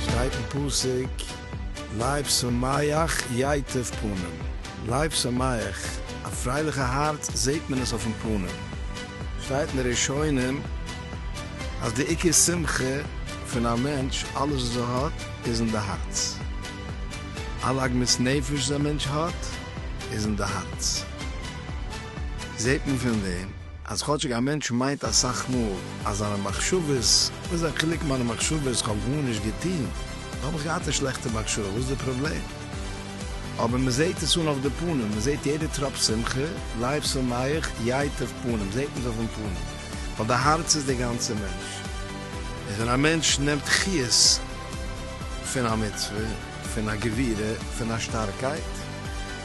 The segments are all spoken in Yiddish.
שטייט אין פסוק, לב שמח ייטב פנים, לב שמח, א פרייליכע הארץ זעט מען עס אויפן פנים, שטייט אין די ראשונים, אז די עיקר שמחה פון א מענטש, אלעס וואס ער האט איז אין די הארץ, אלע עגמת נפש וואס א מענטש האט איז אין די הארץ, זעט מען פון דעם אז כאטשיג א מענטש מיינט אסאך מאל אז זיינע מחשבות, וואס איז א חילוק מיינע מחשבות, איך האב גארנישט געטון, נאר האב איך געהאט א שלעכטע מחשבה, וואס איז די פראבלעם? אבער מען זעט עס אן אויף די פנים, מען זעט יעדע טראפ שמחה, לייב שמח, ייטב פנים, זעט מען עס אויפן פנים. ווייל די הארץ איז דער גאנצער מענטש, און ווען א מענטש נעמט חיות פון א מצוה, פון א גבירה, פון א שטארקייט,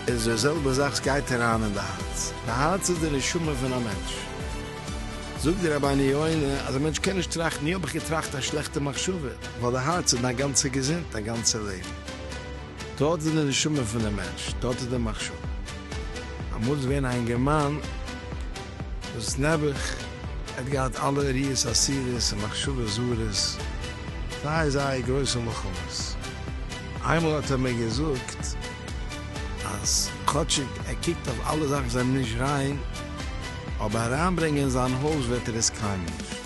איז די זעלבע זאך, עס גייט אריין אין די הארץ, די הארץ איז די נשמה פון א מענטש. זאגט די רבני יונה אז א מענטש קען נישט טראכטן, יא האב איך געטראכט א שלעכטע מחשבה, ווייל די הארץ איז דיין גאנצע געזונט, דיין גאנצע לעבן. דארט איז די נשמה פון די מענטש, דארט איז די מחשבה. אמאל איז געווען א אינגערמאן וואס נעבעך ער האט געהאט אלע עריות אסירות און מחשבות זרות, זייער זייער גרויסע מלחמות, איינמאל האט ער מיר געזאגט אז כאטשיג ער קוקט אויף אלע זאכן וואס זענען נישט ריין, אבער אריינברענגען אין זיין הויז וועט ער עס קיינמאל נישט.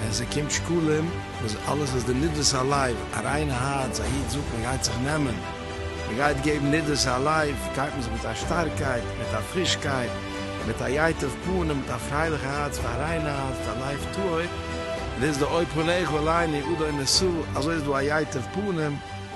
ווען ס'קומט שקלים, וואס אלעס איז די נדבת הלב, א ריינע הארץ, א איד זאגט מ'גייט זיך נעמען, מ'גייט געבן נדבת הלב, גייט מען זיך מיט א שטארקייט, מיט א פרישקייט, מיט א ייטב פנים, מיט א פרייליכע הארץ, מיט א ריינע הארץ, מיט א לב טהור, דאס איז די אוי פניך אליני אדוני נשא, אזוי איז דא א ייטב פנים.